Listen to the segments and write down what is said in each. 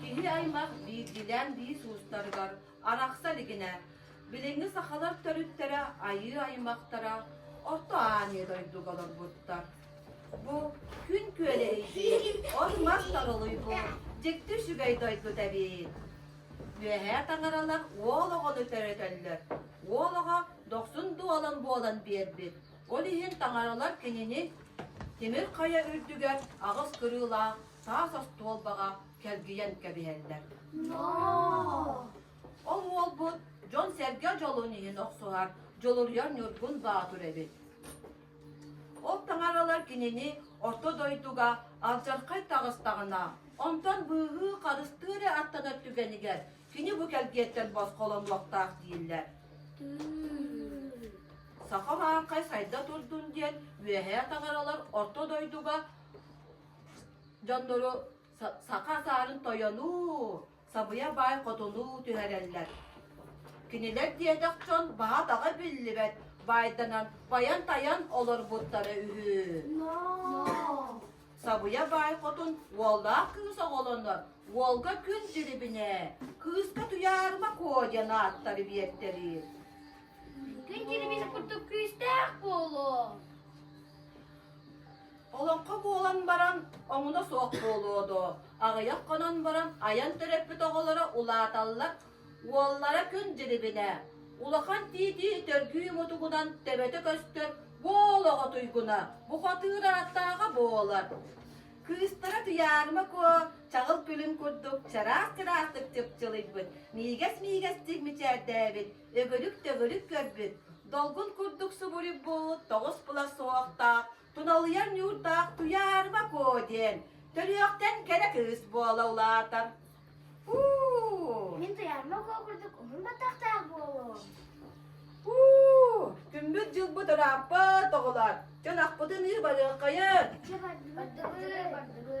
Киһи-аймах биирдиилээн биис уустарыгар арахса илигинэ, билиҥҥи сахалар төрүттэрэ айыы аймахтара Орто Ааньа дойдуга олорбуттар. Бу күн күөлэ эйиир, ор-мас тарылыйбы, дьикти үчүгэй дойду тэбиэйин. Үөһээ таҥаралар уол оҕону төрөтөллөр. Уол оҕо дохсун дуолан буолан биэрбит. Ол иһин таҥаралар кинини Тимир Хайа үрдүгэр аҕыс кырыылаах саас остуолбаҕа кэлгийэн кэбиһэллэр. Ол уолбут дьон-сэргэ дьолун иһин охсуһар, дьулуруйар Ньургун Баатыр эбит. Ол таҥаралар кинини орто дойдуга алдьархай таҕыстаҕына, онтон быыһыы харыстыы эрэ аттанар түгэнигэр кини бу кэлгиэттэн босхолонуохтаах дииллэр. Саха маархай сайда турдун диэн үөһээ таҥаралар орто дойдуга Дьоннору саха саарын тойонуу, сабыйа баай хотунуу түһэрэллэр. Кинилэр диэтэх дьон баҕа-таҕа биллибэт баайданан байан-тайан олорбуттара үһү. Сабыйа баай хотун уоллаах кыыс оҕолонор уолга күн дьирибинэ, кыыска Туйаарыма Куо диэн ааттары биэртэриир. Күн дьирибинэ курдук күүстээх буолуо. Олоҥхо буолан баран, омуна суох буолуо доо, аҕыйах хонон баран айан төрөппүт оҕолоро улааталлар, уоллара күн дьирибинэ, улахан тиитии төргүү мутугунан төбөтө көстөр буол оҕо туйгуна, бухатыыр араттааҕа буолар. Кыыстара Туйаарыма Куо чаҕыл күлүн курдук чараах-чараахтык чыпчылыйбыт, миигэс-миигэстик мичээрдээбит, өгүлүк-төгүлүк көрбүт, долгун курдук субуруйбут тоҕус кыла суохтаах Туналыйар ньуурдаах Туйаарыба-куо диэн төрүөхтэн кэрэ кыыс буола улаатар. Уу! Мин Туйаарыма-куо курдук уһун баттахтаах буолуом. Уу! Күммүт дьылбыт ырааппыт, оҕолор. Дьонахпытын ыы барыаххайын. Бардыбы, бардыбы.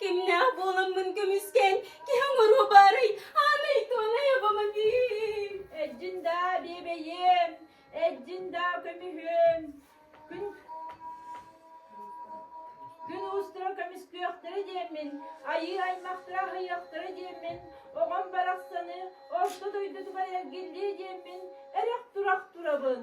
кимнээх буоламмын көмүскэн киһи оҥоруо баарый аанай туонай обомобиль эдьин даа биэбэйиэм эдьин даа көмүһүөм күн күн уустара көмүскүөхтэрэ диэммин айыы аймахтара аһыйыахтара диэммин оҕом барахсаны орто дойдутугар эргиллиэ диэммин эрэх турах турабын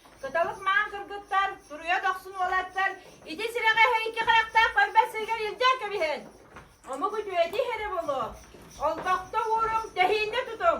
Кыталык маан кыргыттар, туруйа дохсун уолаттар, ити сирэҕэ эһэ икки харахтаах барбат сиригэр илдьэн кэбиһэн. Омук үтүөти иһэрэ буолуо. Олбохто ууруҥ, тэһииннэ тутуҥ.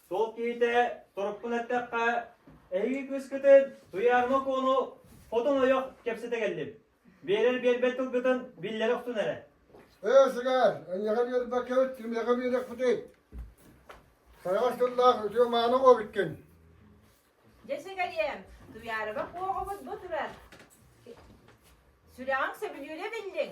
Сол киһитэ торуппун эттэххэ, эһиги кыыскытын Туйаарма Куону хотун ойох кэпсэтэ келлим. Биэрэр биэрбэт тылгытын биллэрэ охтун эрэ. Ээ, сыгар, эньэҕэ биэрбэккэбит, кимиэхэ биэриэхпитий? Сайаҕас тыллаах үтүө мааны оҕобуккин. Дьэ, сыгариэм, Туйаарыба Куоҕобут бу турар. Сүрэҕиҥ сөбүлүүрэ биллиҥ.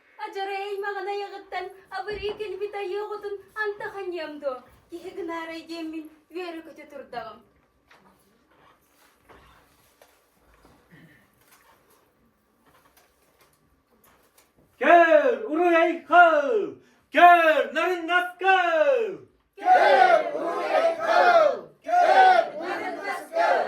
Адьарай аймаҕын айаҕыттан абырыы кэлбит айыы оҕотун анта ханьыам дуо? Киһи гынаарай диэммин үөрэ-көтө турдаҕым. Көр, уруй кыл! Көр, нарынгас кыл! Көр, уруй кыл! Көр, нарынгас кыл!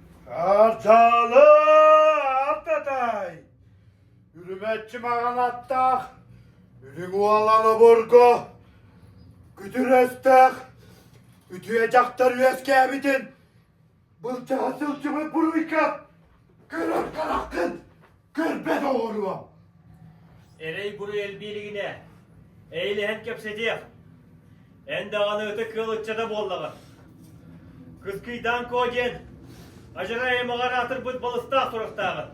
Ардьаалы Ардытай Үрүмэччи маҕан аттаах Үрүҥ Уолан обургу Күтүрэстээх Үтүө дьахтар үөскээбитин Былдьаһа сылдьыбыт буруйга Көрөр хараххын Көрбө доҕоруом! Эрэй-буруй элбии илигинэ, эйилэһэн кэпсэтиэх. Эн даҕаны ытык ыал ыччата буоллаҕын. Кыскыйдаан коо диэн адьырай аймаҕар аатырбыт балыстаах туруктааҕын.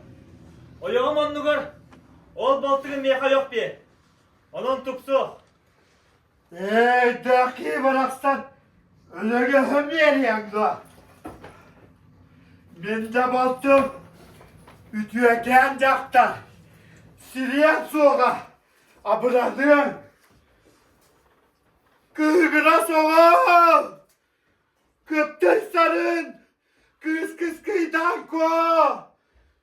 Ойоҕум оннугар ол балтыгын миэхэ ойох биэр. Онон тупсуох. Өйдөөххүү барахсан өлөгөһүм биэриэҥ дуо? Мин да балтым үтүөкээн дьахтар сириэн суоҕа абыраныаҥ кыыгына соҕол кыптык сарын кыыс кыскыйдаан коо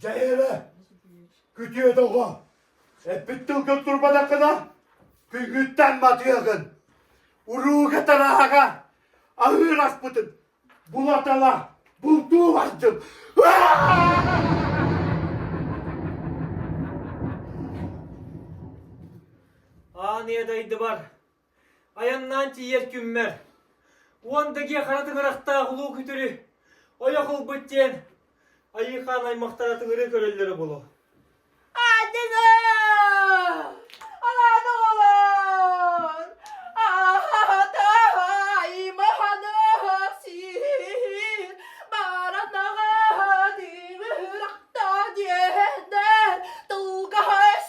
Дьэ эбэ, күтүөт оҕо, эппит тылгын турбатаххына, күнгүттэн матыаҕын. Урууга тараага аһыыраспытын булатала бултуу бардым. Аан ийэ дайдыбар Айаннаан тиийэр күммэр, уон дэгиэ хара тыҥырахтаах улуу күтүрү ойох ылбыт диэн Айыыхаан аймахтара тыгыры көрөллөрө буолуо. Атын-о! Аан оҕолор! Аатаа! Имаханасир! Маранаҕа дилырахта диэннэр, тулгаһас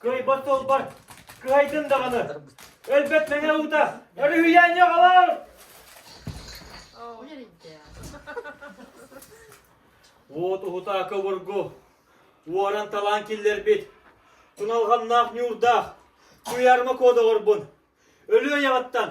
Кыайбат тылбар, кыһайдын даҕаны. Өлбөт мэҥэ уута, өрүһүйээн йоҕалар! Уот уһутаакы обургу, уоран талаан киллэрбит, туналҕамнаах ньуурдаах, куйаарма куодоҕорбун, өлүө яҕаттан,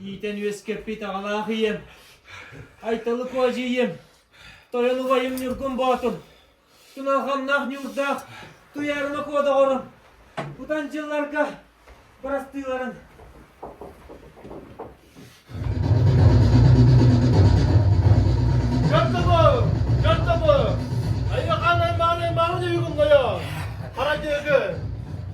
Иитэн үөскэппит аҕалаах ийэм, Айталыку адьыйым, тойон убайым Ньургун Боотур, Туналханнаах Ньуурдаах Туйаарыма Куодаҕорум, утан дьылларга бырастыыларын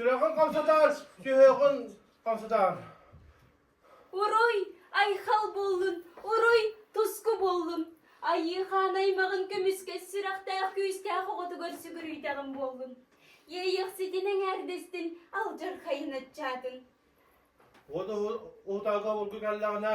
Сүрэҕин хамсатаар, сүһүөҕүн хамсатаар. Уруй, айхал буоллун, уруй, туску буоллун. Айыы хаан аймаҕын көмүскэ сүрэхтээх күүстээх оҕотугар сүгүрүйтэҕин буоллун. Иэйиэхситин эҥээрдэстин, алдьархайын аччаатын. Уонна уһутаага обургу кэллэҕинэ,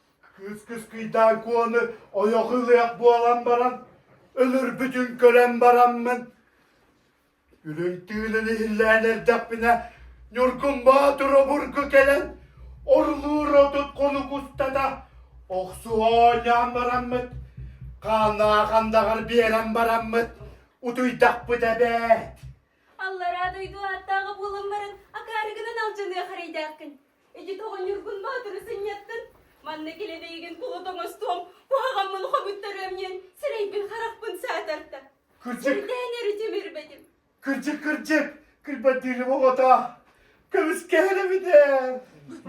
Кыыс-кыскыйдаан куону ойох ылыах буолан баран, өлөрбүтүн көрөн бараммын, үрүҥ тыынан иһиллээн эрдэхпинэ, Ньургун Боотур обургу кэлэн, орлуур отут хонук устата охсу оонньоон бараммыт, хааннаах андаҕар биэрэн бараммыт, утуйдахпыт эбээт! Аллараа дойду ааттааҕы буолан баран, акаары гынан алдьаныах эрэйдээххин. Ити оҕонньорбун маатыры сынньаттын. Манна килэнэйигин тула тоҥостуом, куһаҕаммын хомуттарыамньыан, сирэйбин-харахпын саатарта. Кырдьык, Сирдээн эрэ тимирбэтим. кырдьык, кырдьык, кырбаттыырым оҕото. Көмүскэһэр эбитэ.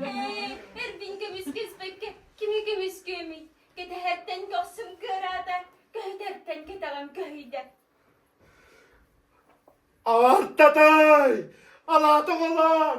Ээ, эрбин көмүскэспэккэ кими көмүскүөмүй? Кэтэһэртэн көхсүм кыараата, көһүтэртэн кэтэҕим көһүйдэ. Аартатай! Алаата оҕолоор!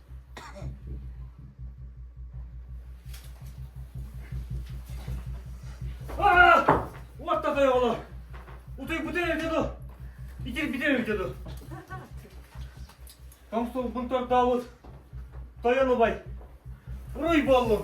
Уотта тойоҕоло! Утуйбутун эрдэ ду! Итирбитин эрдэ ду! Комсуолбун тордообут! Тойон убай! Уруй буоллум!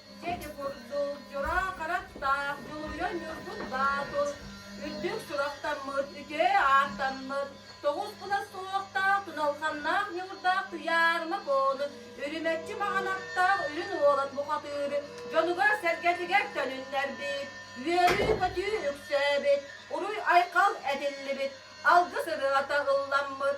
Дьэдьи курдук Дьоро хараттаах Дьулуйа Ньургун Боотур үрдүк сурахтаммыт үтүө ааттаммыт тоҕус кута суохтаах туналханнаах ньуурдаах Туйаарыма Бону үрүмэччи маҕанаттаах үрүн уолан бухатыыр дьонугар-сэргэтигэр төнүннэрбит үөрүү-көтүү үксээбит уруй-айхал этиллибит алгыс ырыата ылламмыт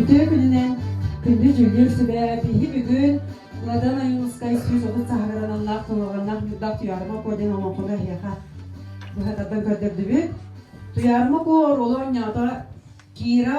Үтүө күнүнэн күндү дьүүллүүр сүбэ биһиги бүгүн Ладан Айылыскай сүүс отут саһагарананнаах тураганнах ньурдах Туйаарыма Ко диэн олоҥхону эһиэхэ быһатардан көрдөрдүбүт. Туйаарыма Ко оруолу оонньоото Кира